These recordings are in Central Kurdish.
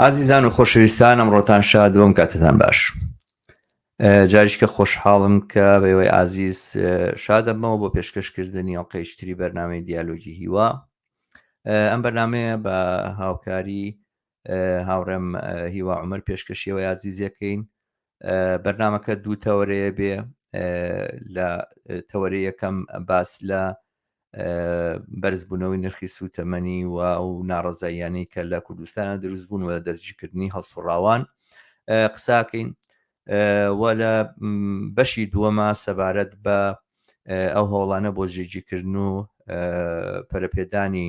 ئازیزان و خۆشەویستان ئەمڕۆتان شاد بۆم کاتتان باش جاریشکە خۆشحاڵم کە بەوەی ئازیز شادەمەوە بۆ پێشکەشکردنی ئەڵلقەیشتری بەرنمەی دیالۆگی هیوا ئەم بەرنمەیە بە هاوکاری هاوڕێم هیوا عمر پێشکەشیەوە یازیزیەکەین بەرنمەکە دوو تەوەرەیە بێ لە تەوەری یەکەم باس لە بەرزبوونەوەی نرخی سووتەمەنی و و ناڕزاییانی کە لە کوردستانە دروست بوون و دەستگیرکردنی هەڵسوڕاوان قساکەین و لە بەشی دووەمە سەبارەت بە ئەو هەوڵانە بۆ ژێجیکردن و پەرەپێدانی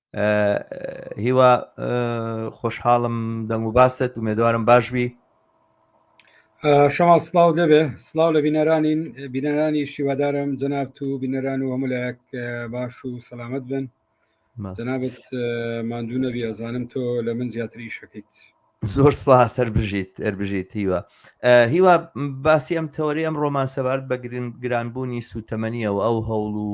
هیوا خۆشحاڵم دەنگ و باست و مێدوارم باش بی شەماڵ سلااو دەبێ سلااو لە بینەرانین بینەرانی شیوادارم جەناب و بینەران و هەمولایەک باش و سەلامت بن جەنابەت ماندوو نەبی ئەزانم تۆ لە من زیاتری شەکەیت زۆر سپا سەر بژیت ئەر بژیت هیوە هیوا باسی ئەم تەوەری ئەم ڕۆمان سەبارەت بە گران گرانبوونی سوتەمەنیەوە ئەو هەوڵ و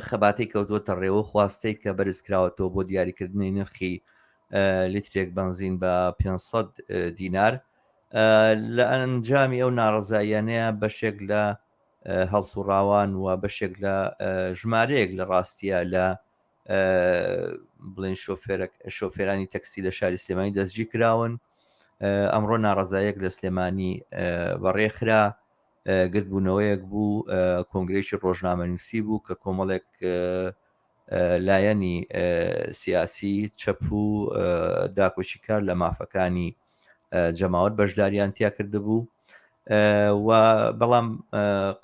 خەباتەی کەوتووەتە ڕێوە خواستەی کە بەرزکراوەتەوە بۆ دیاریکردنی نرخی لیترێک بنزین بە 500 دینار لە ئەنجامی ئەو ناڕزاییانەیە بەشێک لە هەڵسوڕاوان و بەشێک لە ژمارەیەک لە ڕاستیە لە بڵێن شۆفێرانی تەکسی لە شاری سلێمانی دەستگی کراون ئەمڕۆ ناڕزایەک لە سلێمانی بەڕێخرا گردبوونەوەیەک بوو، کۆنگرەیەکی ڕۆژنامەنووسی بوو کە کۆمەڵێک لایەنی سیاسی چەپ و داکۆکیکار لە مافەکانی جەماوەر بەشداریان تیا کردبوو و بەڵام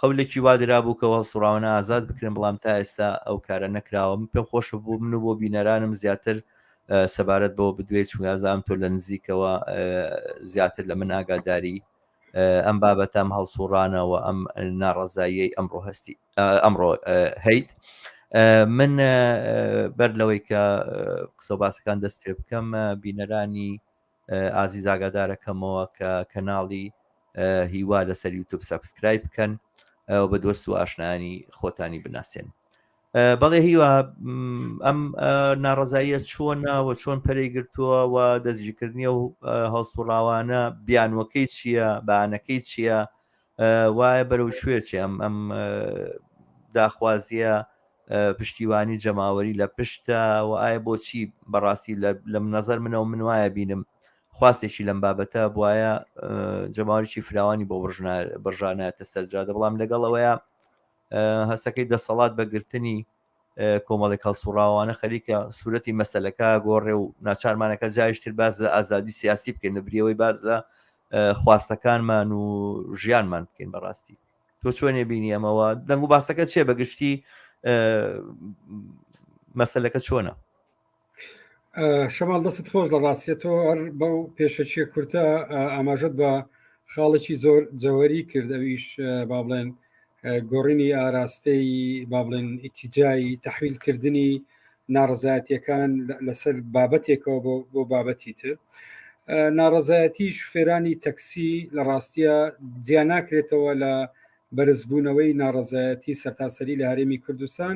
قەولێکی وادرا بوو کە هەڵسوڕاوانە ئازاد بکرێن بەڵام تا ئێستا ئەو کارە نەکراوە من پێم خۆشە بوو من و بۆ بینەرانم زیاتر سەبارەت بەوە بدوێت چونگازام تۆ لە نزیکەوە زیاتر لە من ئاگاداری ئەم بابەتە ئەم هەڵسوڕانە و ئەم ناڕەزاییەی ئەمڕۆ هەستی ئەمڕۆ هەیت من بەر لەوەی کە قسە باسەکان دەست پێ بکەم بینەرانی ئازی زاگادارەکەمەوە کە کەناڵی هیوا لەسەر یوتوب سبسکرایب بکەن بە دۆست و ئاشنانی خۆتانی بناسێن بەڵێ هیوا ئەم ناڕزاییە چۆنە و چۆن پەرەی گرتووە و دەستگیرکردنی و هەڵسوڕاوانە بیانوەکەی چییە بانەکەی چییە وایە بەرەو شوێ چێ ئەم ئەم داخوازیە پشتیوانی جەماوەری لە پشتە و ئایا بۆچی بەڕاستی لەم نەزەر منەوە من وایە بینم خواستێکی لەم بابەتە بواە جەماوەێکی فراوانی بۆ بڕژانایەتە سەرجادە بەڵام لەگەڵ ئەوەیە هەستەکەی دەسەڵات بە گرتنی کۆمەڵێک هەڵسوڕاوانە خەریکە سوورەتی مەسلەکە گۆڕێ و ناچارمانەکە جایشتر باز لە ئازادی سیاسی بکەین لە بریەوەی باز لە خواستەکانمان و ژیانمان بکەین بەڕاستی تۆ چۆنێ بینی ئەمەوە دەنگ و باسەکە چێ بەگشتی مەسلەکە چۆنە شەماڵ دەست خۆش لە ڕاستێتەوە هەر بەو پێشەچیە کورتە ئاماژت بە خاڵێکی زۆر جەوەری کردەویش با بڵێن گۆڕینی ئاراستەی با بڵێن ئیتیجایی تحویلکردنی ناڕزایەتەکان لەسەر بابەتێکەوە بۆ بابەتی تر ناڕزایەتی شوفێرانی تەکسی لە ڕاستیە جیاناکرێتەوە لە بەرزبوونەوەی ناڕزایەتی سەرتاسەری لە هەرێمی کوردستان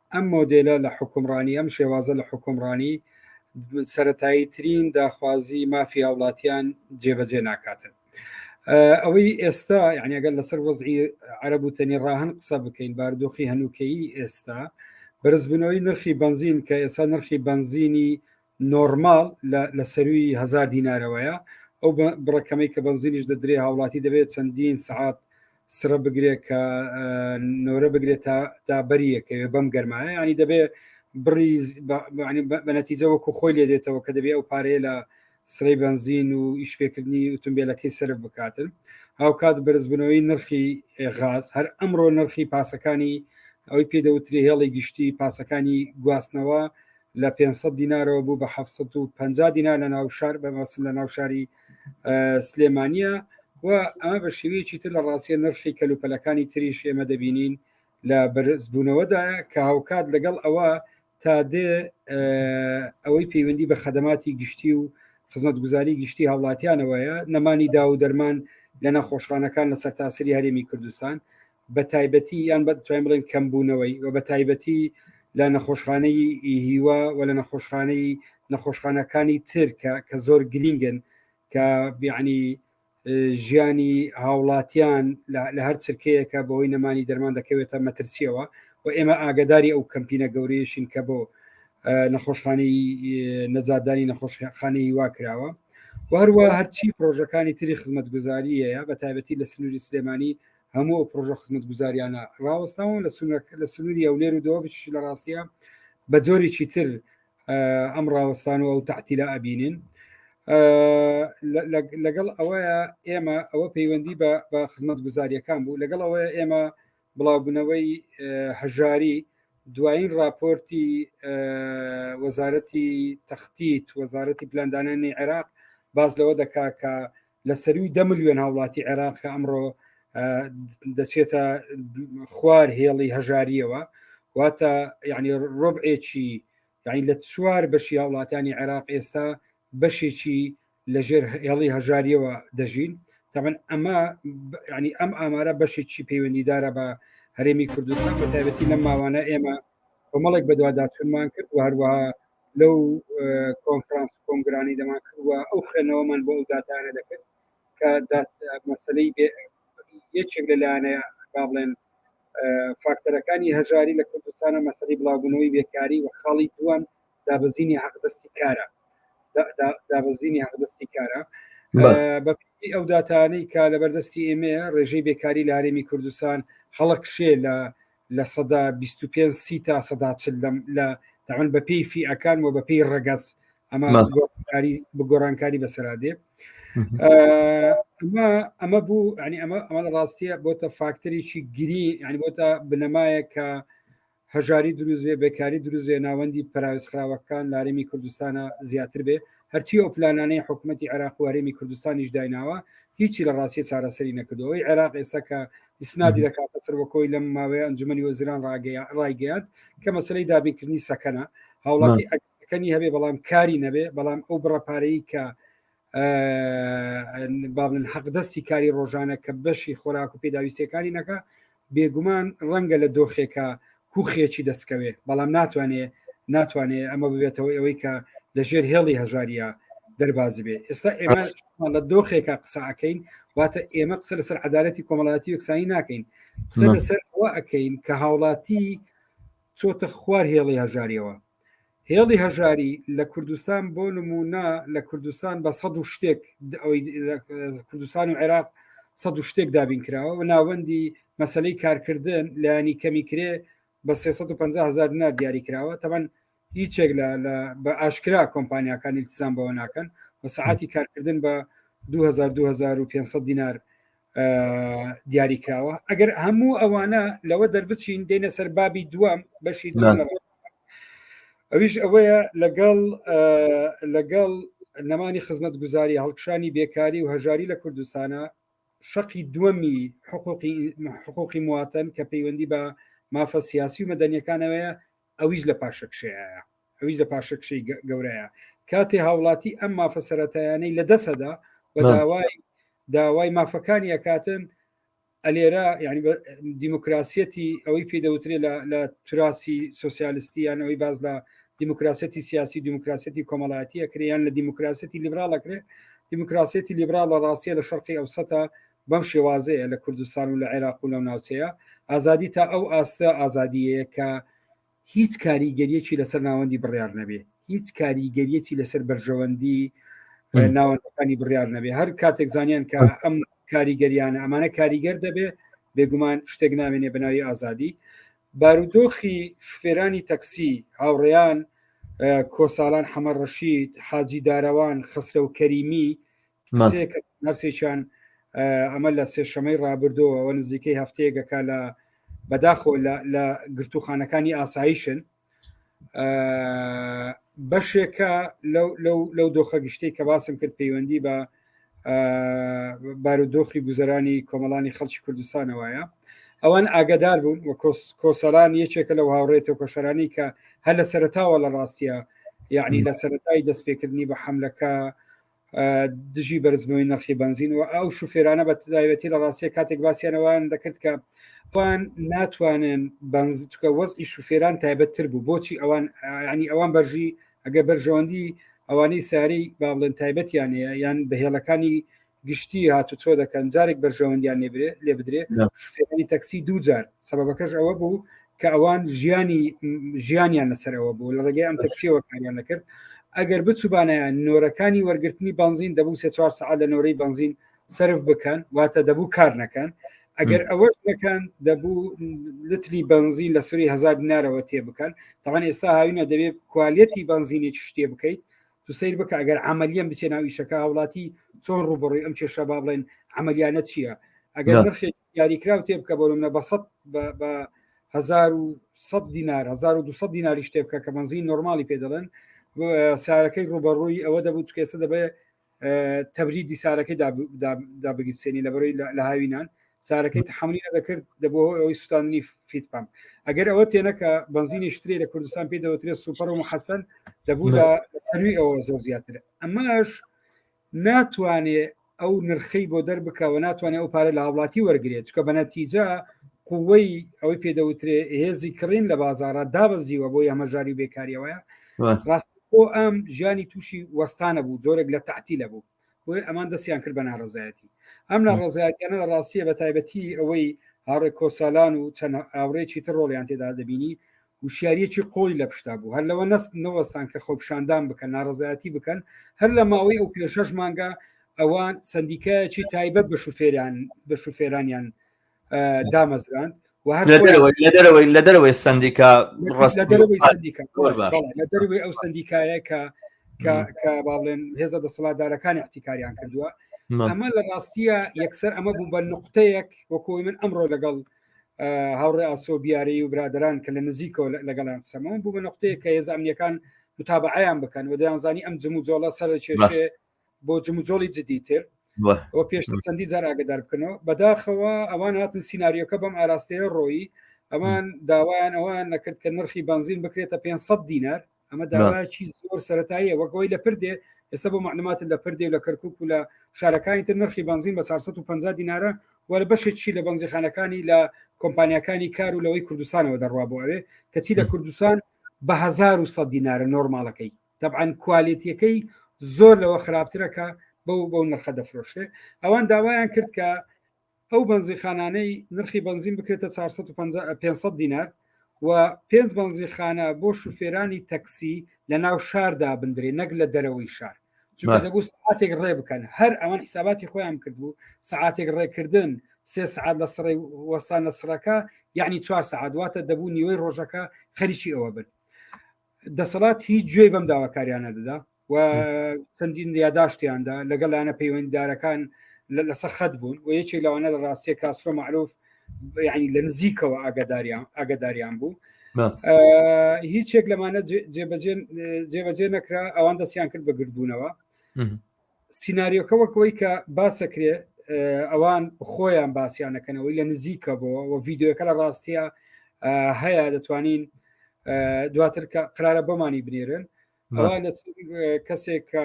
ئەم مۆدێلە لە حوکمڕانی، ئەم شێوازە لە حوکمڕانی سەرەتاییترین داخوازی مافی هاوڵاتیان جێبەجێ ناکاتن. ئەوەی ئێستا یعنی ئەگەر لەسەر وەزعی عەرب و تەنی ڕاهن قسە بکەین باردۆخی هەنووکەی ئێستا بەرزبوونەوەی نرخی بنزین کە ئێستا نرخی بنزینی نۆرماڵ لە لە سەرووی هەزار دینارەوەیە، ئەو بە بڕە کەمەی کە بەنزینیش دەدرێ هاوڵاتی دەبێ چەندین سەعات سڕە بگرێ کە نۆرە بگرێ تا تا بەری یەکەوێ بەم گەرمایە یانی دەبێ بڕی بە نەتیجە وەکو خۆی لێ دێتەوە کە دەبێ ئەو پارەیە لە سرەی بەنزین و ئیشپێکردنی ئوتمبیلەکەی سرف بکاتن هاوکات بەرزبنەوەی نرخی غاز هەر ئەمڕۆ نرخی پاسەکانی ئەوی پێدەوتری هێڵی گشتی پاسەکانی گواستنەوە لە پێنج سەد دینارەوە بوو بە حەفت سەد و پەنجا دینار لە ناو شار بە مەسم لە ناو شاری سلێمانیە و ئەمە بە شێوەیەکی تر لە ڕاستیە نرخی کەلوپەلەکانی تریش ئێمە دەبینین لە بەرزبوونەوەدایە کە هاوکات لەگەڵ ئەوە تا دێ ئەوەی پەیوەندی بە خەدەماتی گشتی و خزمەتگوزاری گشتی هاوڵاتیانەوەیە نەمانی دا و دەرمان لە نەخۆشخانەکان لە سەرتاسری هەرێمی کوردستان بە تایبەتی یان بە توانین بڵێن کەمبوونەوەی و بە تایبەتی لە نەخۆشخانەی هیوا و لە نەخۆشخانەی نەخۆشخانەکانی تر کە کە زۆر گرینگن کە بیعنی ژیانی هاوڵاتیان لە هەر چرکەیەکە بەوەی نەمانی دەرمان دەکەوێتە مەترسیەوە و ئێمە ئاگداری ئەو کەمپینە گەورەیەشین کە بۆ نەخۆشخانی نەجاددانی نەخۆشخانی هیوا کراوە وهروە هەرچی پرۆژەکانی تری خزمەتگوزاریەیە بە تایبەتی لە سنووری سلێمانی هەموو ئەو پڕۆژە خزمەتگوزاریانە ڕاوەستاون لە لە سنووری هەولێر و دەوە بچش لە ڕاستە بە جۆرێکی تر ئەم ڕاوەستان و ئەو تعتیلا ئەبینین لەگەڵ ئەوەیە ئێمە ئەوە پەیوەندی بە خزمەت گوزاریەکان بوو لەگەڵ ئەوەیە ئێمە بڵاوبوونەوەی هەژاری دوایین راپۆرتی وەزارەتی تەختیت وەزارەتی پلاندانانی عێراق باز لەوە دەکا کە لە سەروی دە ملیۆن هاوڵاتی عێراق کە ئەمڕۆ دەچێتە خوار هێڵی هەژاریەوە واتە یعنی ڕۆبعێکی یعنی لە چوار بەشی هاوڵاتانی عێراق ئێستا بەشێکی لەژێر هێڵی هەژاریەوە دەژین تەمەن ئەمە ینی ئەم ئامارە بەشێکی پەیوەندیدارە بە هەرێمی کوردستان بە تایبەتی لەم ماوانە ئێمە کۆمەڵێک بەدواداچونمان کرد و هەروەها لەو کۆنفرانس کۆنگرانی دەمان کردوە ئەو خوێنەوەمان بۆ ئەو داتانە دەکرد کە مەسلەی یەکێک لە لایەنە با بڵێن فاکتەرەکانی هەژاری لە کوردستانە مەسەری بڵاوبوونەوەی بێکاری و خاڵی دووەم دابزینی حەقدەستی کارە دابزینی حەقدەستی کارە بەپی ئەو داتانەی کە لە بەردەستی ئێمەیە ڕێژەی بێکاری لە هەرێمی کوردستان هەڵکشێ لە لە سەدا بیست و پێنج سی تا سەدا چل لەم لە تەمەن بە پێی فیئەکان و بە پێی ڕەگەز ئەمە نا. گۆڕانکاری بگۆڕانکاری بەسەرادێ ئەمە ئەمە بوو ینی ئەمە ئەمە لە ڕاستیە بۆتە فاکتەرێکی گری ینی بۆتە بنەمایە کە هەژاری دروست بێ بێکاری دروست بێ ناوەندی پراویز خراوەکان لارێمی کوردستانە زیاتر بێ هەرچی ئەو پلانانەی حکوومەتتی عێراق و هەرێمی کوردستانیش دایناوە هیچی لە ڕاستی چارەسەری نەکردەوەی عێراق ئێستا کە ئیسنادی دەکاتە سەر وەکۆی لەم ماوەیە ئەنجومی وەزیران ڕایگەیان کە مەسلەی دابینکردنی سەکەنە هاوڵاتی ئەکەنی هەبێ بەڵام کاری نەبێ بەڵام ئەو بڕەپارەی کە بابن حەق دەستی کاری ڕۆژانە کە بەشی خۆراک و پێداویستەکانی نەکە بێگومان ڕەنگە لە دۆخێکە کوخێکی دەسکەوێ بەڵام ناتوانێ ناتوانێ ئەمە ببێتەوەی ئەوەی کە لە ژێر هێڵی هەژاریا دەربازی بێ ئێستا ئێمە لە دۆخێکە قسەکەین واتە ئێمە قسە لەسەر عدالەتی کۆمەڵاتی یەکسانی ناکەین قسە لەسەر ئەوە ئەەکەین کە هاوڵاتی چۆتە خوار هێڵی هەژاریەوە هێڵی هەژاری لە کوردستان بۆ نمونە لە کوردستان بە سەد و شتێک کوردستان و عێراق سەد و شتێک دابین کراوە و ناوەندی مەسلەی کارکردن لایانی کەمی کرێ بە 350 هزار دینار دیاری کراوە تەمەن هیچێک لە بە ئاشکرا کۆمپانیاکانی التزام بەوە ناکەن و سعاتی کارکردن بە 2000 2500 دینار دیاری کراوە ئەگەر هەموو ئەوانە لەوە دەربچین دێنە سەر بابی دوام بەشی ئەویش ئەوەیە لەگەڵ لەگەڵ نەمانی خزمەت گوزاری هەڵکشانی بێکاری و هەژاری لە کوردستانە شەقی دووەمی حقوقی حقوقی مواتەن کە پەیوەندی بە مافە سیاسی و مەدەنیەکانەوەیە ئەویش لە پاشەکشەیە ئەویش لە پاشەکشەی گەورەیە کاتێ هاوڵاتی ئەم مافە سەتایانەی لە دەسەدا بە داوای داوای مافەکانی ئەکاتن ئەلێرە ینی دیموکراسیەتی ئەوەی پێدەوترێ لە تراسی سوسیالستی یانەوەی باز لە دیموکراسەتی سیاسی دیموکراسەتی کۆمەڵایەتیە کرێیان لە دیموکراسەتی لیبراڵەکرێ دیموکراسەتی لیبراڵ لە ڕاستە لە شەرقی ئەو سەتا بەم شێوازەیە لە کوردستان و لە عێراق و لەو ناوچەیە، ئازادی تا ئەو ئاستە ئازادییەیە کە هیچ کاریگەرییەکی لەسەر ناوەندی بڕیار نەبێ، هیچ کاریگەرییەکی لەسەر بەرژەوەندی ناوەندەکانی بڕیار نەبێ، هەر کاتێک زانیان کە ئەم کاریگەریانە ئەمانە کاریگەر دەبێ، بێگومان شتێک ناوێنێ بە ناوی ئازادی. بارودۆخی شوفێرانی تەکسی هاوڕێیان کۆساڵان حەمە ڕەشید، حاجی دارەوان، خەسرەو کەریمی، سێ کەس نەرسێکیان ئەمە لە سێشەمەی ڕابردەوەەوە نزیکەی هەفتەیەگەکە لە بەداخۆ لە گرتوخانەکانی ئاساییشن بەشێکە لەو دۆخە گشتەی کە باسم کرد پەیوەندی بە بارودۆخی گوزەرانی کۆمەڵانی خەڵکی کوردستانەوەیە ئەوان ئاگدار بوون و کۆسەران یەکێکە لەو هاوڕێتەوە کۆشەرانی کە هەر لە سەرتاوە لە ڕاستە یعنی لە سەرای دەستپێکردنی بە حملەکە دژی بەرزبووی نرخی بنزین و ئەو شوفێرانە بە تداوێتی لە ڕاستیە کاتێک باسییانەوەیان دەکرد کە ئەوان ناتوانن بەنزکە وەزی شوفێران تایبەتتر بوو بۆچی ئەوان ینی ئەوان بەرژی ئەگە بەرژەوەندی ئەوانەی ساری با بڵێن تایبەتیان هەیە یان بەهێڵەکانی گشتی هاتو چۆ دەکەن جارێک بەرژەوەندیان لێبرێ لێ بدرێ شوفێرانی تەکسی دووجار سەبەکەش ئەوە بوو کە ئەوان ژیانی ژیانیان لەسەر ئەوە بوو لە ڕێگەی ئەم تەکسیەوە کاریان نەکرد ئەگەر بچوبانەیە نۆرەکانی وەرگرتنی بنزین دەبوو سێ چوار سعات لە نۆرەی بنزین سرف بکەن واتە دەبوو کار نەکەن ئەگەر ئەوەش نەکەن دەبوو لتری بنزین لە سوری هزار دینارەوە تێ بکەن تاوان ئێستا هاوینە دەبێت کوالەتی بنزینی شتێ بکەیت تو سیر بکە ئەگەر عملیان بچێ ناویشەکە هاوڵاتی چۆن ڕوبڕی ئەم کێشە با بڵێن عملیانە چییە ئەگەر نرخێک یاریکراو تێ بکە بۆ منە بە سە بە هزار و سە دینار 1200 دیناری شتێ بکە کە بەنزین نۆرمالی پێ دەڵێن سارەکەی ڕوبەڕووی ئەوە دەبوو چکێسە دەبێت تەبریدی سارەکەی دابگیرسێنی لەبەرەوەی لە هاوینان سارەکەی تحملی دەکرد دەبەوە ئەوەی سوستاننی فیت پام ئەگەر ئەوە تێنەکە بنزینی شتێ لە کوردستان پێ دەوترێت سوپەر و حەسەن دەبوو لە سەروی ئەوە زۆر زیاتر ئەمەش ناتوانێ ئەو نرخەی بۆ دەربکە و ناتوانێت ئەو پارە لە هاوڵاتی وەرگێت چکە بە نەتیجە قوەی ئەوەی پێدەوترێ هێزی کڕین لە بازارە دابەزیوە بۆ یامەژاری بێکاریەوەە ڕاست بۆ ئەم ژیانی تووشی وەستانە بوو زۆرێک لە تاعتی لە بوو بۆی ئەمان دەستیان کرد بە ناڕزایەتی ئەم ناڕزایەتیانە لە ڕاستیە بە تایبەتی ئەوەی هاڕێک کۆسالان و چەند ئاوڕێکی تر ڕۆڵیان تێدا دەبینی وشیاریەکی قوڵی لە پشتا بوو هەر لەوە نەست نەوەستان کە خۆپیشاندان بکەن ناڕەزایەتی بکەن هەر لە ماوەی ئەو پێ شەش مانگە ئەوان سندیکایەکی تایبەت بە شوفێران بە شوفێرانیان دامەزراند دەرەوەی لە دەرەوەی سندیکا لە دەروی ئەو سندیکایە کە کە باڵێن هێزە دەسەڵاتدارەکان احتیکاریان کردووە ئەمە لە ڕاستیە یەکسەر ئەمە بوو بە نقطەیەک وەکۆی من ئەمڕۆ لەگەڵ هاوڕێ ئاسۆ بیارەی و برادران کە لە نزیکەوە لەگەڵان قسەمەون بوو بە نقطەیە کە هێز ئەمنیەکان متابعیان بکەن و دەیانزانی ئەم جمو جۆڵە سەر کێشێ بۆ جموجۆڵی جدیتر وە پێش چەندی جار ئاگدار بکەنەوە بەداخەوە ئەوان هاتن سینناریۆکە بەم ئاراستەیە ڕۆیی ئەمان داوایان ئەوان نەکرد کە نرخی بنزین بکرێتە 500 دینار ئەمە داواکی زۆر سەتاییە وەکەوەی لە پردێ ئێستا بۆ معلومات لە پردێ لە کەرکک و لە شارەکانی تر نرخی بنزین بە 450 دینارە و لە بەشێکی لە بنزیخانەکانی لە کۆمپانیەکانی کار و لەوەی کوردستانەوە دەڕوا بۆ ئەوێ کەچی لە کوردستان بە 1970 دینارە نۆرمالەکەی دەبعاان کوالێتیەکەی زۆر لەوە خراپترەکە بەو بەو نرخە دەفرۆشێ ئەوان داوایان کرد کە ئەو بەنزینخانانەی نرخی بەنزین بکرێتە چوار سەد و پەنجا ئە پێنج سەد دینار و پێنج بەنزینخانە بۆ شوفێرانی تەکسی لە ناو شار دابندرێ نەک لە دەرەوەی شار چونکە بەر. دەبوو سعاتێک ڕێ بکەن هەر ئەوان حیساباتی خۆیان کردبوو سعاتێک ڕێکردن سێ سعات لە سڕی وەستان لە سڕەکە یعنی چوار سعات واتە دەبوو نیوەی ڕۆژەکە خەریکی ئەوە بن دەسەڵات هیچ گوێی بەم داواکاریانە دەدا و چەندین یاداشتیاندا لەگەڵ لایەنە پەیوەنددارەکان لەسەر خەت بوون و یەکێک لەوانە لە ڕاستیە کاسرۆ معروف ینی لە نزیکەوە ئاگداریان ئاگداریان بوو هیچێک لەمانە جێبەجێ نەکرا ئەوان دەستیان کرد بە گردبوونەوە سینناریۆکە وەکەوەی کە باسەکرێ ئەوان خۆیان باسییانەکەنەوەی لە نزیکە بۆ و ڤیددیوەکە لە ڕاستیە هەیە دەتوانین دواتر کە قرارە بۆمانی بنێرن ئەوە لە کەسێک کە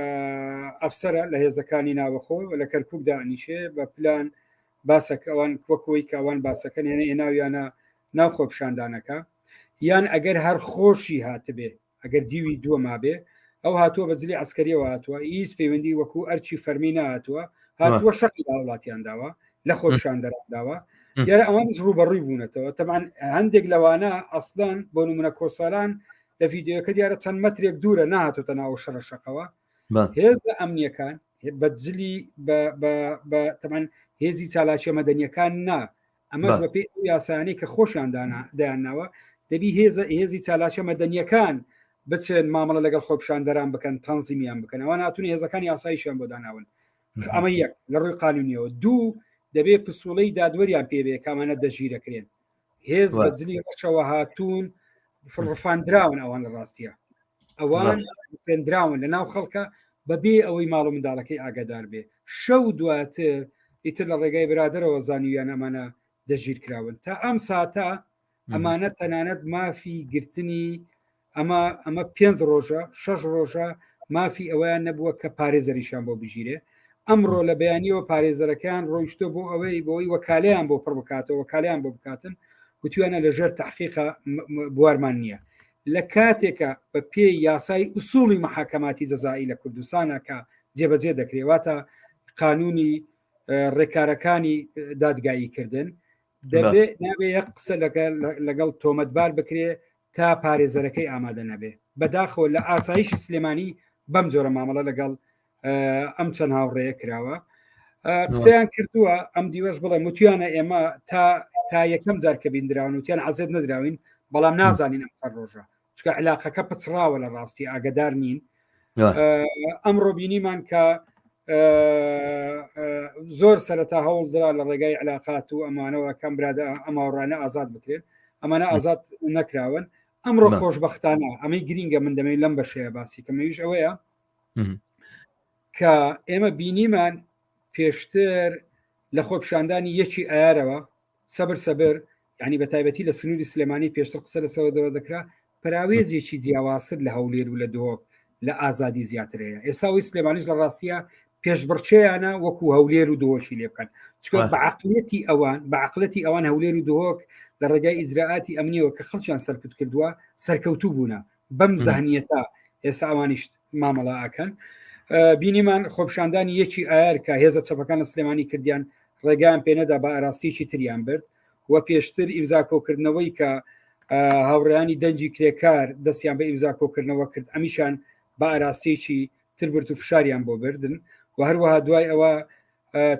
ئەفسرە لە هێزەکانی ناوەخۆ لە کەرکک دانیشێ بە پلان باسەک ئەوان وەکەوەی کە ئەوان باسەکەن هێنە ئێناویانە ناو خۆپشاندانەکە یان ئەگەر هەر خۆشی هاتبێ ئەگەر دیوی دووە مابێ ئەو هاتووە بە جلی ئەسکەریەوە هاتووە هیچ پەیوەندی وەکو ئەرچی فەرمی نهاتووە هاتووە شەقی وڵاتیان داوە لە خۆشان دەراداوە یارە ئەوانش ڕوبەڕووی بوونەتەوە تەمان هەندێک لەوانە ئەسلان بۆ نمونە کۆسالان لە ڤیددیوەکە دیارە چەند مەترێک دوورە نهاتۆتە ناو شەڕەشەقەوە هێزە ئەمنیەکان بەجلی تەمان هێزی چالاکیە مەدەنیەکان نا ئەمە بەپی یاسانی کە خۆشیان دایانناوە دەبی هێزە هێزی چالاکە مەدەنیەکان بچێن مامەڵە لەگەڵ خۆپشاندەران بکەن تەنزیمیان بکەن ئەوە ناتون هێزەکان یاسایشیان بۆ داناون ئەمە یەک لە ڕووی قانونیەوە دوو دەبێ پسوڵەی دادوەریان پێبێ کامانە دەژیرەکرێن هێز بە جلی ڕەشەوە هاتوون فڕفاندراون ئەوان لە ڕاستە ئەوان پێندراون لە ناو خەڵکە بەبێ ئەوەی ماڵ و منداڵەکەی ئاگادار بێ شەو دواتر ئیتر لە ڕێگای برادرەوە زانیویان ئەمانە دەژیر کراون تا ئەم ساتە ئەمانە تەنانەت مافی گرتنی ئەمە ئەمە پێنج ڕۆژە شەش ڕۆژە مافی ئەوەیان نەبووە کە پارێزەریشان بۆ بگیرێ ئەمڕۆ لە بەیانیەوە پارێزەرەکان ڕۆیشتۆ بۆ ئەوەی بۆی وەکالیان بۆ پڕ بکاتەوە وەکالیان بۆ بکاتن وتویانە لە ژێر تحقیقا بوارمان نییە لە کاتێکە بە پێ یاسای ئوسوڵی مححکەماتی جەزایی لە کوردستانە کە جێبەجێ دەکرێواتە قانونی ڕێکارەکانی دادگایی کردن دەبێت نابێ یە قسە لەگەڵ تۆمەتبار بکرێ تا پارێزەرەکەی ئامادە نەبێ بەداخەوە لە ئاسایشی سلێمانی بەم جۆرە مامەڵە لەگەڵ ئەم چەند هاوڕێە کراوە قسەیان کردووە ئەم دیوەش بڵێ متویانە ئێمە تا تا یەکەم جار کە بیندراون وتیان عزێت نەدراوین بەڵام نازانین ئەم ڕۆژە چکە علاقەکە پچڕاوە لە ڕاستی ئاگدار نین ئەمڕۆ بینیمان کە زۆر سەرەتا هەوڵدرا لە ڕێگای علااقات و ئەمانەوە کەم برادە ئەماڕانە ئازاد بکرێت ئەمانە ئازاد نەکراون ئەمڕۆ خۆشببختانە ئەمەی گرینگە من دەمەوێت لەم بەشەیە باسی کەمەویش ئەوەیە کە ئێمە بینیمان پێشتر لە خۆپشاندانی یەکی ئارەوە سەبر سەبر یعنی بە تایبەتی لە سنووری سلێمانی پێشتر قسە لەسەوە دەوە دەکرا پراوێزێکی جیاوازتر لە هەولێر و لە دۆک لە ئازادی زیاتر هەیە ئێساوی سلێمانیش لە ڕاستیە پێشبڕچەیانە وەکو هەولێر و دۆشی لێ بکەن چکە بەعقلەتی ئەوان بەعقلەتی ئەوان هەولێر و دۆک لە ڕێگای ئیجرراعاتی ئەمنیەوە کە خەڵکیان سەرکوت کردووە سەرکەوتوو بوونە بەم زانیەتە ئێستا ئەوانیش مامەڵە ئەکەن بینیمان خۆپشاندانی یەکی ئایار کە هێزە چەپەکان لە سلێمانی کردیان ڕێگان پێنەدا بە ئاراستیی تریان برد و پێشتر ئیمزا کۆکردنەوەی کە هاوڕیانی دەنجی کرێکار دەستیان بە ئیمزا کۆکردنەوە کرد ئەمیشان بە ئاراستێکی تربرت و فشاریان بۆ بردن و هەروەها دوای ئەوە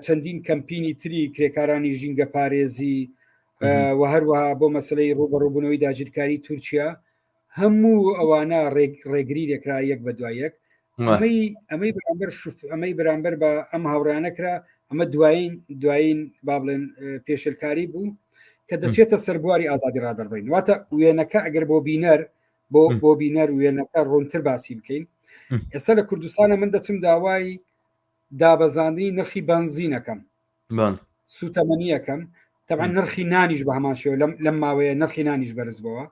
چەندین کەمپینی تری کرێکارانی ژینگە پارێزی و هەروەها بۆ مەسلەی ڕوبەڕوبوونەوەی داگیرکاری تورکیا هەموو ئەوانە ڕێگری دەکرا یەک بە دوای یەک ئەمەی ئەمەی بەرامبەر شف ئەمەی بەرامبەر بە ئەم هاوڕانە کرا ئەمە دوایین دوایین با بڵێن پێشلکاری بوو کە دەچێتە سەربواری ئازادی ڕادەڕبین واتە وێنەکە ئەگەر بۆ بینەر بۆ بۆ بینەر وێنەکە ڕوونتر باسی بکەین ئێستا لە کوردستانە من دەچم داوای دابەزاندنی نرخی بنزینەکەم سوتەمەنیەکەم تەبان نرخی نانیش بە هەمان شێو لەم ماوەیە نرخی نانیش بەرز بەوە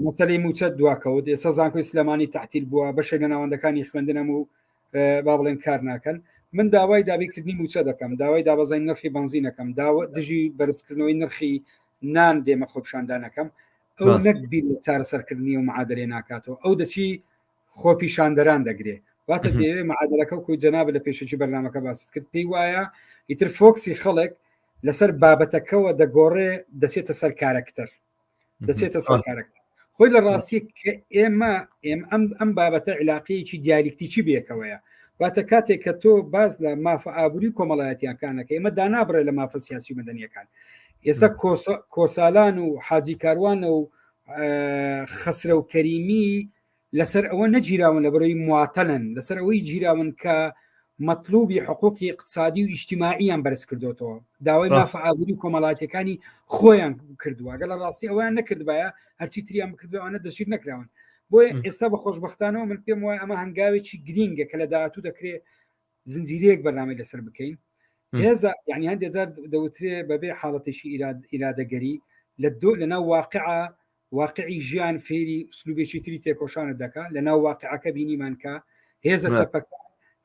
مەسەی موچە دواکەوت ئێستا زانکۆی سلێمانی تحتیل بووە بەشێک لە ناوەندەکانی خوێندنەم و با بڵێن کار ناکەن من داوای دابیکردنی موچە دەکەم داوای دابەزای نرخی بنزینەکەم داوە دژی بەرزکردنەوەی نرخی نان دێمە خۆپشاندانەکەم ئەو نەک بیر چارەسەرکردنی و معادلێ ناکاتەوە ئەو دەچی خۆپیشاندەران دەگرێ واتە دەیەوێ معادلەکە و کوی جەناب لە پێشجی بەرنمەکە باست کرد پێی وایە ئیتر فۆکسی خەڵک لەسەر بابەتەکەەوە دەگۆڕێ دەچێتە سەر کارەکتەر دەچێتە سەر کارەکتەر خۆی لە ڕاستی کە ئێمە ئێم ئەم ئەم بابەتە علاقەیەکی دیالیکتیی بێکەوەیە واتە کاتێک کە تۆ باز لە مافە ئابووری کۆمەڵایەتیەکانەکە ئێمە دانابڕێ لە مافە سیاسی مەدەنیەکان ئێستا کۆسالان و حاجی کاروانە و خەسرە و کەریمی لەسەر ئەوە نەگیراون لە بەرەی مواتەلن لەسەر ئەوەی گیراون کە مەطلوبی حقوقی اقتصادی و ئیشتیماعیان بەرز کردوەوە داوای مافە ئابووری و کۆمەڵاتەکانی خۆیان کردووە گەڵ ڕاستی ئەویان نەکردبایە هەرچی تریان بکردوانە دەشیر نەکراون بۆیە ئێستا بە خۆشببختانەوە من پێم وایە ئەمە هەنگاوێکی گرینگە کە لە داهاتوو دەکرێت زنجیرەیەک بەنامەی لەسەر بکەین هێزە یعنی هەندێک جار دەوترێ بەبێ حاڵەتێکی ئیرادەگەری لە دۆ لەناو واقع واقعی ژیان فێری ئوسلوبێکی تری تێکۆشانت دەکا لە ناو واقعەکە بینیمان کە هێزە چەپەکە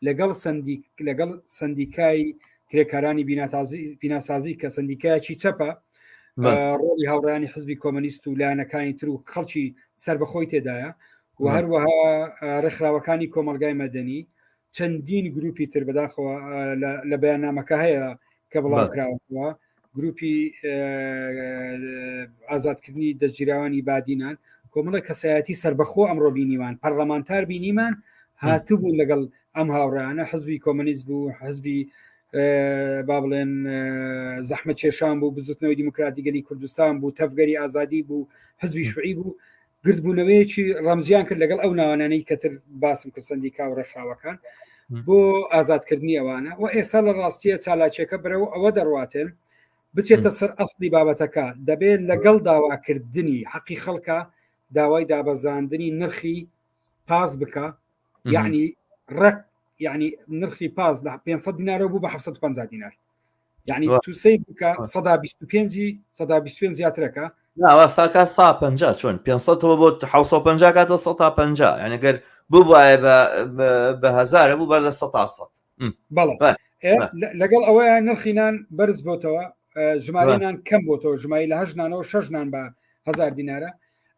لەگەڵ سندیک لەگەڵ سندیکای کرێکارانی بیناتازی بیناسازی کە سندیکایکی چەپە ڕۆڵی هاوڕیانی حزبی کۆمەنیست و لایەنەکانی تر و خەڵکی سربەخۆی تێدایە و هەروەها ڕێکخراوەکانی کۆمەلگای مەدەنی چەندین گروپی تر بەداخەوە لە بەیاننامەکە هەیە کە بڵاوکراوەوە گروپی ئازادکردنی دەگیراوانی بادینان کۆمەڵە کەسایەتی سربەخۆ ئەمڕۆ بینیمان پەرلەمانتار بینیمان هاتبوو لەگەڵ ئەم هاوڕانە حزبی کۆمەنیست بوو حزبی با بڵێن زەحمە کێشان بوو بزوتنەوەی دیموکراتی گەلی کوردستان بوو تەفگەری ئازادی بوو حزبی شوعی بوو گردبوونەوەیەکی ڕەمزیان کرد لەگەڵ ئەو ناوانانەی کەتر باسم کرد سندیکا و ڕێکخراوەکان بۆ ئازادکردنی ئەوانە و ئێستا لە ڕاستیە چالاکیەکە برەوە ئەوە دەڕاتێن بچێتە سەر ئەسلی بابەتەکە دەبێت لەگەڵ داواکردنی حەقی خەڵکە داوای دابەزاندنی نرخی پاس بکە یعنی ڕق یعنی نرخی پاس لە 500 دینارەوە بوو بە 750 دینار یعنی تو سەیر بکە سەدا بیست و پێنجی سەدا بیست پێنج زیاترەکە ناوە ساکە سا پنج چۆن پێ سەەوە بۆ حوسە و پنج کاتە سە تا پنج یعنی گەر ببواە بە هزارە بوو بەر لە سە تا سە بەڵێ لەگەڵ ئەوەیە نرخینان بەرز بۆتەوە ژمارەنان کەم بۆتەوە ژمای لە هەژنانەوە شەژنان بە هزار دینارە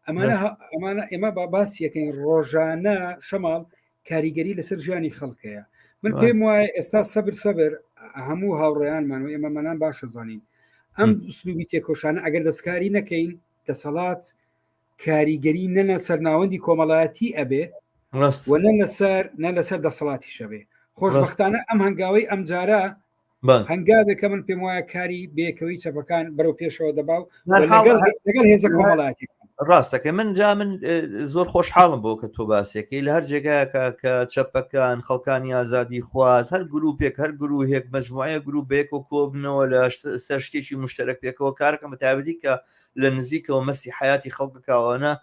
ئەمانە ئەمانە ئێمە بە باس یەکەین ڕۆژانە شەماڵ کاریگەری لەسەر ژیانی خەڵکەیە من پێم وایە ئێستا سەبر سەبر هەموو هاوڕێیانمان و ئێمەمەنان باشە زانین ئەم سلوبی تێکۆشانە ئەگەر دەستکاری نەکەین دەسەڵات کاریگەری نەنە سەرناوەندی کۆمەڵایەتی ئەبێ و نە لەسەر نە لەسەر دەسەڵاتی شەبێ خۆشببختانە ئەم هەنگاوی ئەمجارە هەنگاوێکە من پێم وایە کاری بێکەوەی چەپەکان بەرەو پێشەوە دەبا و لەگەڵ هێزە کۆمەڵاتی ڕاستەکە من جا من زۆر خۆشحاڵم بۆ کە تۆ باسێکی لە هەر جێگایەکە کە چەپەکان خەڵکانی ئازادی خواز هەر گروپێک هەر گروهێک مەجموعەیە گروپ بێک و کۆبنەوە لە سەر شتێکی مشتەرەک پێکەوە کارەکە متابەتی کە لە نزیکەوە مەسی حیاتی خەڵکەکەوانە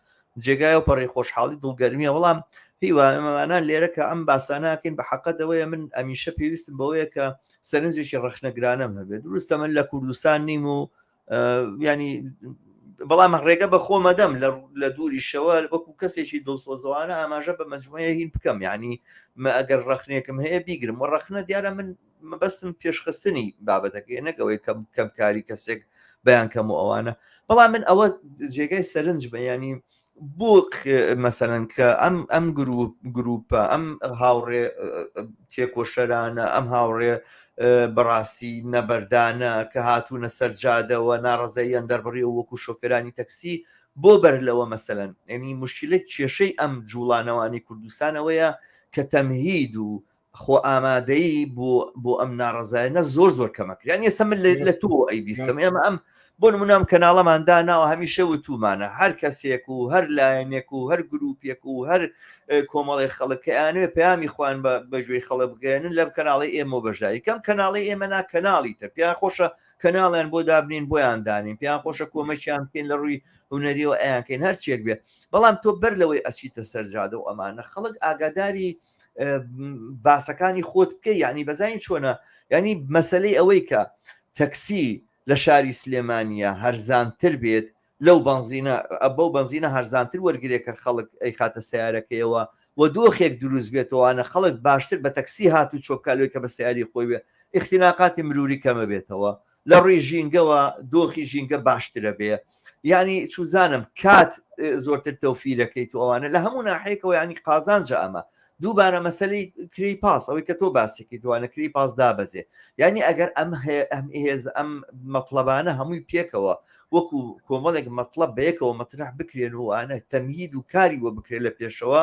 جێگای و پەڕی خۆشحاڵی دڵگەرمیە وەڵام هیوانە لێرە کە ئەم باسانەکەین بە حەقەتەوەیە من ئەمیشە پێویستم بەوەیە کە سەرنجێکی ڕخنەگرانەم هەبێت دروستە من لە کوردستان نیم و ینی بەڵام ڕێگە بە خۆمەدەم لە دووریشەوە وەکو کەسێکی دڵسۆزەوانە ئاماژە بە مجموعەیە هین بکەم ینی مە ئەگەر ڕخنێکم هەیە بیگرم و ڕخنە دیارە من مەبەستم پێشخستنی بابەتەکەی نەک ئەوەی کەم کەم کاری کەسێک بەیان کەم و ئەوانە بەڵام من ئەوە جێگای سەرنج بەیانی بۆ مەسەرەن کە ئەم ئەم گروپ گروپە ئەم هاوڕێ تێکۆشەرانە ئەم هاوڕێ بەڕاستی نەبەردانە کە هاتوونە سەرجادەوە ناڕزەیان دەربڕی و وەکو شۆفێرانی تەکسی بۆ بەر لەوە مەسەن ئەنی مشکلە کێشەی ئەم جوڵانەوانی کوردستانەوەیە کە تەمهید و خۆ ئامادەیی بۆ بۆ ئەم ناڕزایەنە زۆر زۆر کەمە یان ئێستا من لە تۆ ئەی بیستم ئێمە ئەم بۆ نمونام کەناڵەماندا ناوە هەمیشە وتومانە هەر کەسێک و هەر لایەنێک و هەر گروپێک و هەر کۆمەڵی خەڵکیانێ پامی خوان بە بەژوی خەڵە بگەێنن لەم کەناڵی ئێمە بەشداری کەم کەناڵی ئێمە نا کەناڵی تر پێیان خۆشە کەناڵیان بۆ دابنین بۆیان دانین پێیان خۆشە کۆمەکیان بکەین لە ڕووی هوەریەوە ئەیانکەین هەرچێک بێ بەڵام تۆ بەر لەوەی ئەسیتە سەرجادە و ئەمانە خەڵک ئاگاداری باسەکانی خۆت بکە یعنی بەزانین چۆنە ینی مەسلەی ئەوەی کە تەکسی لە شاری سلێمانە هەرزانتر بێت لەو بنزینە بەو بنزینە هەرزانتر وەرگێک کە خەڵک ئەی خاتە سیارەکەیەوە و دۆخێک دروست بێتەوەوانە خەڵک باشتر بە تەکسی هات و چۆکالۆی کە بە سیاری خۆی بێ اختیناقاتی مروری کەمە بێتەوە لە ڕووی ژینگەوە دۆخی ژینگە باشترە بێ ینی چوزانم کات زۆرتر تەوفیرەکەیت و ئەوانە لە هەموو ناحەیەکەوە ینی قازانجە ئەمە دووبارە مەسلی کری پاس ئەوەی کە تۆ باسێکی دوانە کری پاس دابەزێ ینی ئەگەر ئەم ئەم هێز ئەم مەطلبانە هەمووی پێکەوە وەکو کۆمەڵێک مەطلب بەیەکەوە مەترح بکرێن و ئەە تەمهید و کاری وە بکرێت لە پێشەوە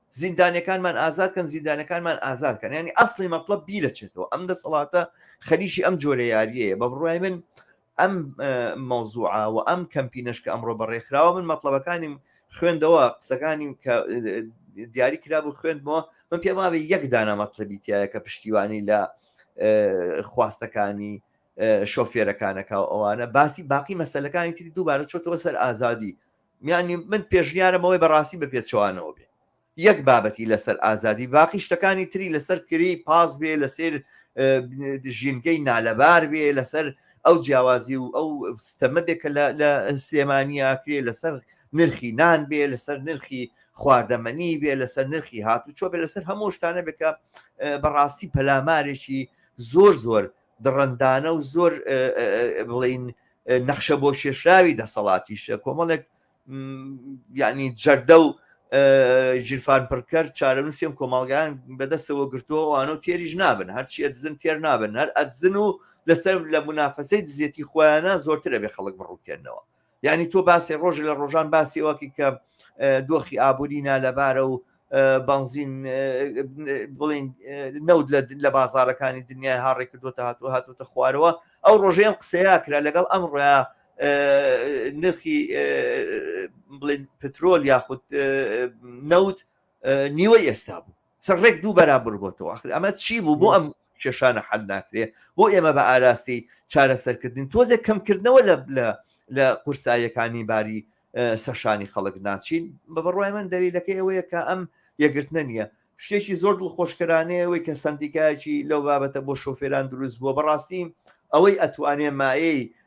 زیندانیەکانمان ئازاد کەن زیندانەکانمان ئازاد کەن ینی ئەسڵی مەتڵەب بیرەچێتەوە ئەم دەسەڵاتە خەریکی ئەم جۆرە یاریەیە بە بڕای من ئەم مەوزوعە و ئەم کەمپینەش کە ئەمڕۆ بەڕێکخراوە من مەطلبەکانیم خوێندەوە قسەکانی کە دیاری کراب و خوێندمەوە من پێم وابێ یەک دانە مەطلبیتایە کە پشتیوانی لە خواستەکانی شۆفێرەکانەکە و ئەوانە باسی باقی مەسلەکانی تری دووبارە چۆتەوە سەر ئازادی یانی من پێشنیارم ئەوەی بەڕاستی بە پێچەوانەوە بێ یەک بابەتی لەسەر ئازادی باقی شتەکانی تری لەسەر کری پاس بێ لەسێر ژینگەی نالەبار بێ لەسەر ئەو جیاوازی و ئەو ستەمە بێ کە لە سلێمانیا کرێ لەسەر نرخی نان بێ لەسەر نرخی خواردەمەنی بێ لەسەر نرخی هاتوچۆ بێ لەسەر هەموو شتانە بێکە بەڕاستی پەلامارێکی زۆر زۆر دڕندانە و زۆر بڵین نەخشە بۆ شێشراوی دەسەڵاتیشە کۆمەڵێک یعنی جەردە و ژیرفان پڕکەر چارەنووسیم کۆمەڵگان بەدەستەوە گرتووەوانە و تێریش نابن هەرچی ئەدزن تێر نابن هەر ئەدزن و لەسەر لە منافەسەی دزێتی خۆیانە زۆرترە بێ خەڵک بڕوتێنەوە یانی تۆ باسی ڕۆژی لە ڕۆژان باسی ئەوەکی کە دۆخی ئابووری نالەبارە و بەنزین بڵین نەوت لە بازارەکانی دنیای هاڕێک کردوتە هاتو هاتوتە خوارەوە ئەو ڕۆژەیەم قسەیە کرا لەگەڵ ئەم ڕۆیا نرخی بڵین پترۆل یاخود نەوت نیوە ئێستا بوو سەر ڕێک دوو بەرابر بۆتەوە ئەخر ئەمە چی بوو بۆ ئەم کێشانە حل ناکرێ بۆ ئێمە بە ئاراستی چارەسەرکردن تۆزێک کەمکردنەوە لە لە لە قورساییەکانی باری سەشانی خەڵک ناچین بە بەڕای من دەلیلەکە ئەوەیە کە ئەم یەگرتنە نییە شتێکی زۆر دڵخۆشکرانەیە ئەوەی کە سندیکایەکی لەو بابەتە بۆ شۆفێران دروست بووە بەڕاستی ئەوەی ئەتوانێ مایەی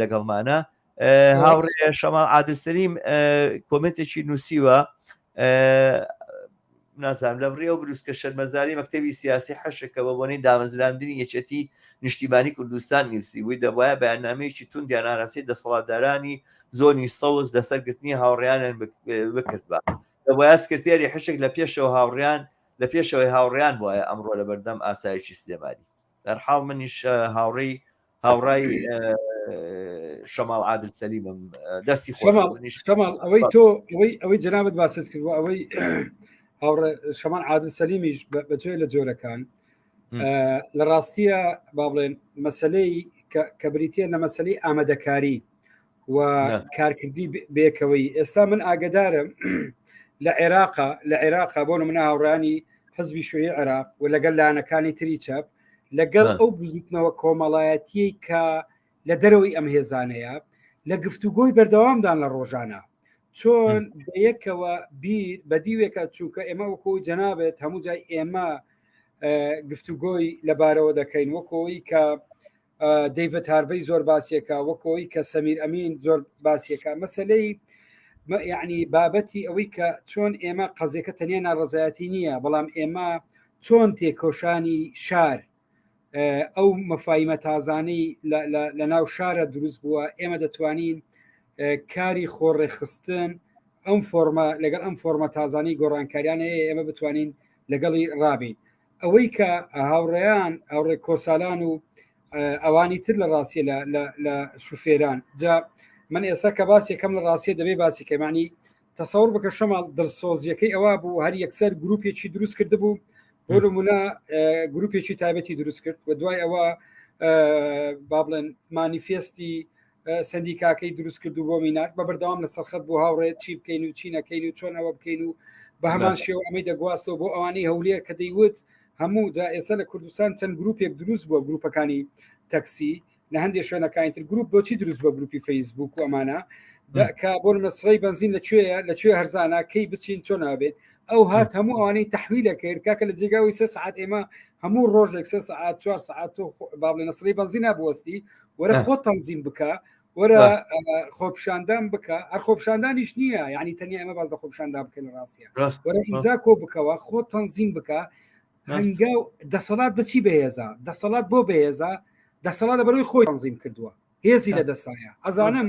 لەگەڵمانە هاوڕێ شەماڵ عادلسەلیم کۆمنتێکی نووسیوە نازانام لە بڕێ و بروسکە شەرمەزاری مەکتتەبی سیاسی حەشەکە بە بۆنەی دامەزراندنی یەکێتی نیشتیمانی کوردستان نیوسی بووی دەبواە بەیاننامەیەکی تون دیاناراسی دەسەڵاتدارانی زۆنی سەوز لەسەر گرتنی هاوڕیانیان بکرد بە دەبواە سکرتێری حشک لە پێشەوە هاوڕیان لە پێشەوەی هاوڕیان وایە ئەمڕۆ لە بەردەم ئاسایشی سلێمانی بەرحاڵ منیش هاوڕێی هاوڕای شەماڵ عادل سەلیمم دەستی خۆماڵ ئەوەی تۆ ئەوەی ئەوەی جنابەت باست کردوە ئەوەی هاوڕێ شەمان عادل سەلیمیش بەجێ لە جۆرەکان لە ڕاستیە با بڵێن مەسلەی کە بریتە لە مەسلەی ئامادەکاری و کارکردی بێکەوەی ئێستا من ئاگدارم لە عێراقا لە عێراقا بۆ منە هاوڕانی حزبی شوی عێراق و لەگەل لاەنەکانی تری چەپ لەگەڵ ئەو بزوتنەوە کۆمەڵایەتی کە لە دەرەوەی ئەم هێزانەیە لە گفتوگۆی بەردەوامدان لە ڕۆژانە چۆن یەکەوە بیر بە دیوێکە چووکە ئێمە وەکۆ جەنابێت هەموو جای ئێمە گفتوگۆی لەبارەوە دەکەین وەکۆی کە دەیڤەت هارڤەی زۆر باسیەکە وەکەوەی کە سەمیر ئەمین زۆر باسیەکە مەسلەی یعنی بابەتی ئەوەی کە چۆن ئێمە قەزیەکە تەنیا ناڕزایەتی نییە بەڵام ئێمە چۆن تێکۆشانی شار ئەو مەفاایمە تازانەی لە ناو شارە دروست بووە ئێمە دەتوانین کاری خۆڕێخستن ئەم فۆرمە لەگەڵ ئەم فۆرمە تازانەی گۆڕانکاریانەیە ئێمە بتوانین لەگەڵی ڕابین ئەوەی کە هاوڕێیان ئەوڕێ کۆسالان و ئەوانی تر لە ڕاستیە لە شوفێران جا من ئێستا کە باسێکەم لە ڕاستیە دەبێ باسی کەمانی تەسەور بکە شەماڵ دڵسۆزیەکەی ئەوە بوو هەر یەکسەر گروپێکی دروست کرد بوو بۆ نمونە گروپێکی تایبەتی دروست کرد و دوای ئەوە با بڵێن مانیفێستی سەندیکاکەی دروست کرد و بۆ میناک بە بەردەوام لە سەرخەت بۆ هاوڕێت چی بکەین و چی نەکەین و چۆن ئەوە بکەین و بە هەمان شێو ئەمەی دەگواستەوە بۆ ئەوانەی هەولێر کە دەیوت هەموو جا ئێستا لە کوردستان چەند گروپێک دروست بووە گروپەکانی تەکسی لە هەندێک شوێنەکانی تر گروپ بۆچی دروست بە گروپی فەیسبوک و ئەمانە کە بۆ مەسرەی بنزین لە کوێە لە کوێ هەرزانە کەی بچین چۆن نابێت ئەو هات هەموو ئەوانەی تحویلە کرد کاکە لە جێگاوی سێ سعات ئێمە هەموو ڕۆژێک سێ سعات چوار سعات و بابلێ نەسری بەنزی نابوەستی وەرە خۆ تەنزیم بکە وەرە خۆپشاندان بکە هەر خۆپشاندانیش نییە یعنی تەنیا ئەمە باز لە خۆپشاندا بکەن لە ڕاستە وەرە ئیمزا کۆ بکەوە خۆ تەنزیم بکە هەنگا و دەسەڵات بچی بەهێزە دەسەڵات بۆ بەهێزە دەسەڵات لە بەرەوەی خۆی تەنزیم کردووە هێزی لە دەسایە ئەزانم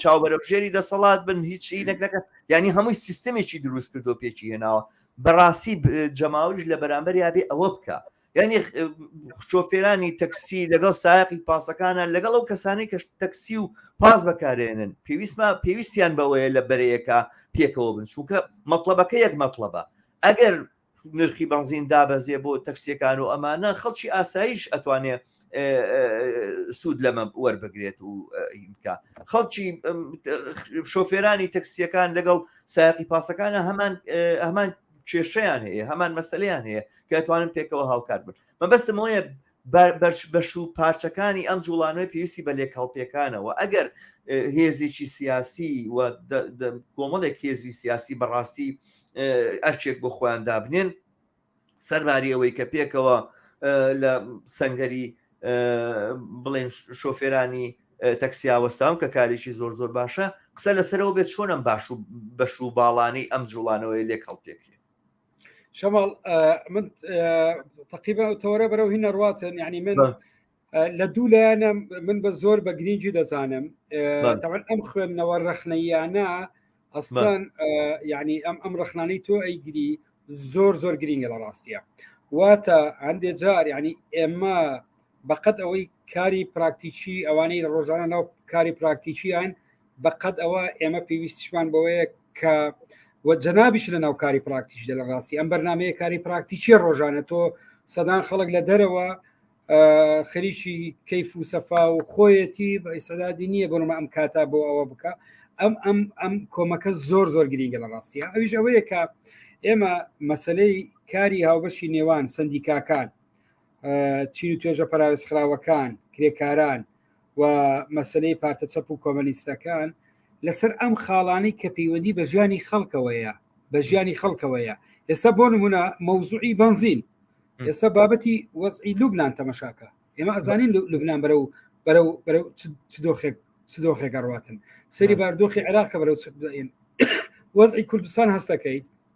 چاوبەرەژێری دەسەڵات بن هیچ شینێک نەکە ینی هەمووی سیستمێکی دروست کردو پێکی هێناوە بەڕاستی جەماوریش لە بەرامبەر یابێ ئەوە بکە ینی شۆفێرانی تەکسی لەگەڵ سایقی پاسەکانە لەگەڵ ئەو کەسانی کە تەکسی و پاس بەکارێنن پێویستمە پێویستیان بەوەیە لە بەرەیەەکە پێکەوە بن چونکە مەطلبەکە یەک مەطلبە ئەگەر نرخی بەنزین دابەزێ بۆ تەکسیەکان و ئەمانە خەڵکی ئاسایش ئەتوانێ سوود لەمە وەربگرێت و ئیمکە خەڵکی شۆفێرانی تەکسیەکان لەگەڵ سایقی پاسەکانە هەمان هەمان کێشیان هەیە هەمان مەسلیان هەیە کە توانن پێکەوە هاوکات بن مەبەستمەوەیە بەش و پارچەکانی ئەم جوڵانەوەی پێویستی بە لێکهەڵپێکانەوە ئەگەر هێزێکی سیاسی و کۆمەڵێک هێزی سیاسی بەڕاستی ئەرچێک بۆ خۆیان دابنێن سەرباری ئەوەی کە پێکەوە لە سنگەری بڵێن شۆفێرانی تەکسیاوەستان کە کارێکی زۆر زۆر باشە قسە لەسەرەوە بێت چۆنم باش و بەش و باڵانی ئەم جوڵانەوەی لێک هەڵپێکرێت شەماڵ من تقیبە تەوەرە بەرەو هی نەڕاتن ینی من لە دوو لایەنە من بە زۆر بە گرنگی دەزانم تاوان ئەم خوێندنەوە ڕەخنەیانە ئەستان ینی ئەم ئەم ڕەخنانەی تۆ ئەیگری زۆر زۆر گرنگە لە ڕاستیە واتە هەندێ جار ینی ئێمە بەقەد ئەوەی کاری پراکتیکی ئەوانەی ڕۆژانە ناو کاری پراکتیکیان بەقەد ئەوە ئێمە پێویستیشمان بەوەیە کە وە جەنابیش لە ناو کاری پراکتیش دە لە ڕاستی ئەم بەرنمەیە کاری پراکتیکی ڕۆژانە تۆ سەدان خەڵک لە دەرەوە خەریکی کەیف و سەفا و خۆیەتی بە ئیسەدادی نییە بۆنمە ئەم کاتا بۆ ئەوە بکە ئەم ئەم ئەم کۆمەکە زۆر زۆر گرینگە لە ڕاستیە ئەویش ئەوەیە کە ئێمە مەسلەی کاری هاوبەشی نێوان سندیکاکان چین و توێژە پەراوێزخراوەکان کرێکاران و مەسلەی پارتە چەپ و کۆمەنیستەکان لەسەر ئەم خاڵانی کە پەیوەندی بە ژیانی خەڵکەوەیە بە ژیانی خەڵکەوەیە ئێستا بۆ نمونە مەوزوعی بنزین ئێستا بابەتی وەزعی لوبناان تەمەشاکە ئێمە ئەزانین لوبناان بەرە و بەرە و بەرە دۆخێک دۆخێک ئەڕاتن سەری باردۆخی عێراقە بەرە وەزعی کوردستان هەستەکەی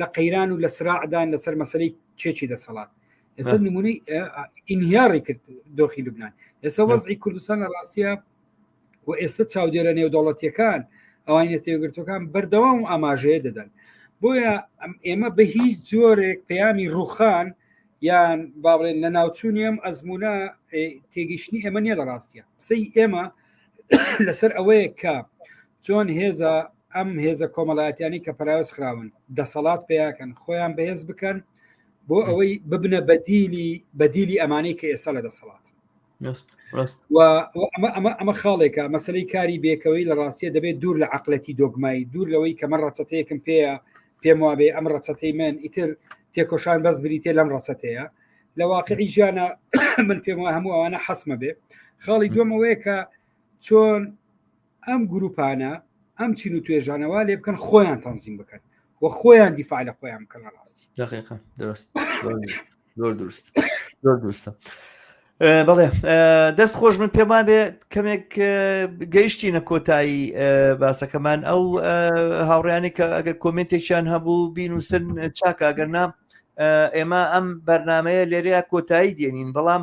لە قەیران و لە سراعدان لەسەر مەسلەی چێکی دەسەڵات ئێستا نمونەی ئینهیاڕی کرد دۆخی لوبناان ئێستا وەزی کوردستان لە ڕاستە و ئێستا چاودێرە نێودەوڵەتیەکان ئەوانە تێگرتوەکان بەردەوام و ئاماژەیە دەدەن بۆیە ئێمە بە هیچ جۆرێک پەیامی ڕوخان یان با بڵێن لە ناوچوونی ئەم ئەزمونە تێگەیشتنی ئێمە نیە لە ڕاستە قسەی ئێمە لەسەر ئەوەیە کە چۆن هێزە ئەم هێزە کۆمەڵایەتیانی کە پەراوێز خراون دەسەڵات پیاکەن خۆیان بەهێز بکەن بۆ ئەوەی ببنە بەدیلی بەدیلی ئەمانەی کە ئێستا لە دەسەڵات ئەمە خاڵێکە مەسلەی کاری بێکەوەی لە ڕاستیە دەبێت دوور لە عقلەتی دۆگمایی دوور لەوەی کەمە ڕەچەتەیەکم پێەیە پێم وابێ ئەم ڕەچەتەی من ئیتر تێکۆشان بەس بریتێ لەم ڕەچەتەیە لە واقعی ژیانە من پێم وە هەموو ئەوانە حەسمە بێ خاڵی دومەوەیە کە چۆن ئەم گروپانە ئەم چین و توێژانەوە لێ بکەن خۆیان تەنزیم بکەن و خۆیان دیفاع لە خۆیان بکەن لە ڕاستی دقیقا درست زۆر درست زۆر درستە بەڵێ دەست خۆش من پێم بێ کەمێک گەیشتی نە کۆتایی باسەکەمان ئەو هاوڕیانی کە ئەگەر کۆمنتێکیان هەبوو بینوسن چاکگەرنا ئێمە ئەم بەرنمەیە لێرەیە کۆتایی دێنین بەڵام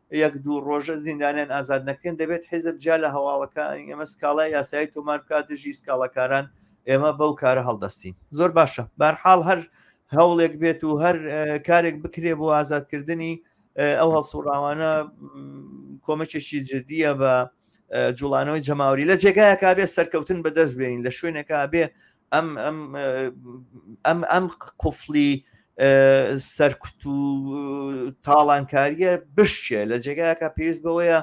یەک دوو ڕۆژە زیندانیان ئازاد نەکەین دەبێت حیزب جیا لە هەواڵەکانی ئێمە سکاڵای یاسایی تۆمار بکات دژی سکاڵەکاران ئێمە بەو کارە هەڵدەستین زۆر باشە بارحاڵ هەر هەوڵێک بێت و هەر کارێک بکرێ بۆ ئازادکردنی ئەو هەڵسوڕاوانە کۆمەکێکی جددیە بە جوڵانەوەی جەماوری لە جێگایەکە بێ سەرکەوتن بەدەست بێنین لە شوێنێکا بێ ئەم ئەم قفلی سەرکوت و تاڵانکاریە بشتێ لە جێگایەکە پێویست بەوەیە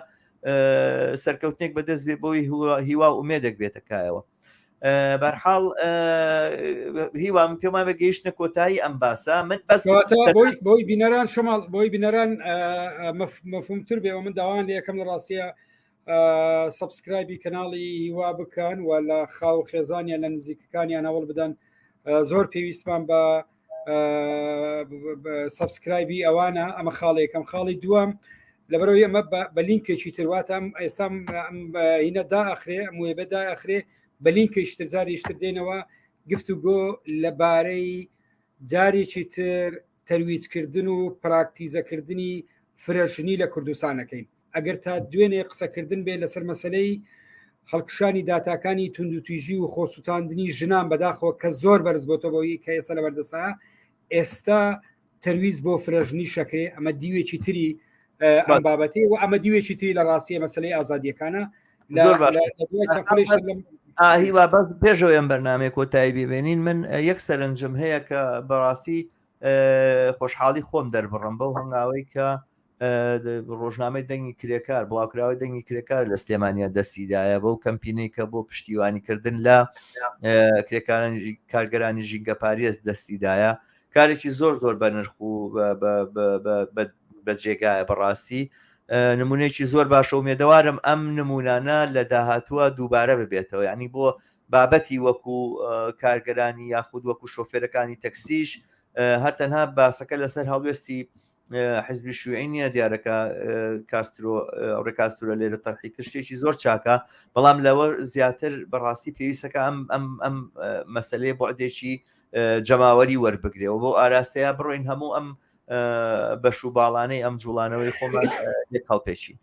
سەرکەوتنێک بەدەست بێ بۆی هیوا ئومێدەک بێتەکایەوە بەرحاڵ هیوام پێمان بە گەیشتە کۆتایی ئەم باسە من بەس بۆی بینەران شماڵ بۆی بینەران مەفهومتر بێەوە من داوان لە یەکەم لە ڕاستە سبسکرایبی کەناڵی هیوا بکەن و لە خاو خێزانیان لە نزیکەکانیان هەوڵ بدەن زۆر پێویستمان بە سبسکرایبی ئەوانە ئەمە خاڵێکم خاڵی دووەم لەبەرەوە ئەمە بە لینکێکی ترواتم ئێستا هینە داخرێ موێ بەدا ئەخرێ بە لینکێکتر جاریشتر دێنەوە گفت و گۆ لەبارەی جارێکی تر تەرویجکردن و پراکتیزەکردنی فرەژنی لە کوردستانەکەین ئەگەر تا دوێنێ قسەکردن بێ لەسەر مەسلەی هەڵکشانی داتاکانی توندوتیژی و خۆسووتاندنی ژنان بەداخەوە کە زۆر بەرز بۆتە بۆی کە ئێستا لە بەردەسا ئێستا تەرویز بۆ فرەژنی شەکرێ ئەمە دیوێکی تری ئەم بابەتی و ئەمە دیوێکی تری لە ڕاستیە مەسلەی ئازادیەکانە هیوا بەس پێشەوە ئەم بەرنمێک کۆتایی ببێنین من یەک سەرنجم هەیە کە بەڕاستی خۆشحاڵی خۆم دەربڕم بەو هەنگاوەی کە ڕۆژنامەی دەنگی کرێکار بڵاوکراوی دەنگی کرێکار لە سلێمانیا دەستیدایە بەو کەمپینەی کە بۆ پشتیوانیکردن لە کرێکاران کارگەرانی ژینگە پارێز دەستیدایە کارێکی زۆر زۆر بە نرخ و بە جێگایە بەڕاستی نمونەیەکی زۆر باشە و مێدەوارم ئەم نمونانە لە داهاتووە دووبارە ببێتەوە ینی بۆ بابەتی وەکو کارگەرانی یاخود وەکو شۆفێرەکانی تەکسیش هەر تەنها باسەکە لەسەر هەڵوێستی حزبی شوێنی نیە دیارەکە کاسترۆ ڕێکاستورە لێرە تەرحی کشتێکی زۆر چاکە بەڵام لەوە زیاتر بەڕاستی پێویستەکە ئەم ئەم ئەم مەسلەیە بۆعدێکی جەماوەری وەربگرێەوە بۆ ئاراستەیە بڕۆین هەموو ئەم بەش و باڵانەی ئەم جوڵانەوەی خۆمان لێ کاڵپێکی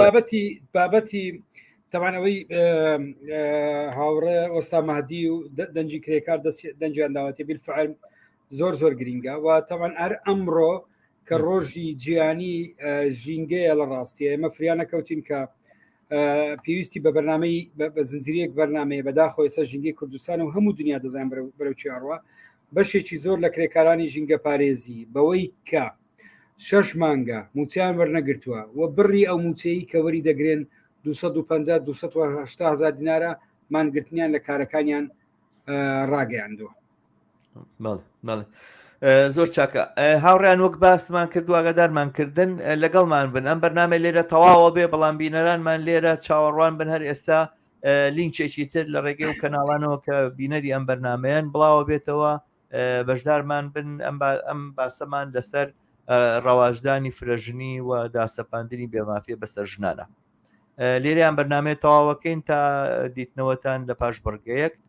بابەتی بابەتی تەوانەوەی هاوڕێ وەستا مادی و دەنجی کرێکار دەنجیان داوەتی بیرفعل زۆر زۆر گرینگە و تەوان ئەر ئەمڕۆ کە ڕۆژی جیانی ژینگەیە لە ڕاستیە ئێمە فریانە کەوتین کە پێویستی بە بەرنمەی بە زنجریەک بەرنمەیە بەداخۆ ئێستا ژینگەی کوردستان و هەموو دنیا دەزان بەرەو چیاڕوە بەشێکی زۆر لە کرێکارانی ژینگە پارێزی بەوەی کە شەش مانگە موچیان وەرنەگرتووە و بڕی ئەو موچەیە کە وەری دەگرێن 250 هزار دینارە مانگرتنیان لە کارەکانیان ڕاگەیاندووە زۆر چاکە هاوڕیان وەک باسمان کرد واگەدارمان کردن لەگەڵمان بن ئەم بەرنمە لێرە تەواوە بێ بەڵام بینەرانمان لێرە چاوەڕوان بن هەر ئێستا لینکێکی تر لە ڕێگەی و کەناڵانەوە کە بینەری ئەم بەرنمەیەن بڵاوە بێتەوە بەشدارمان بن ئەم ئەم باسەمان لەسەر ڕەواجدانی فرەژنی و داسەپاندنی بێمافیە بەسەر ژنانە لێریان بەرنمەیە تەواوەکەین تا دیتنەوەتان لە پاش بڕگەیەک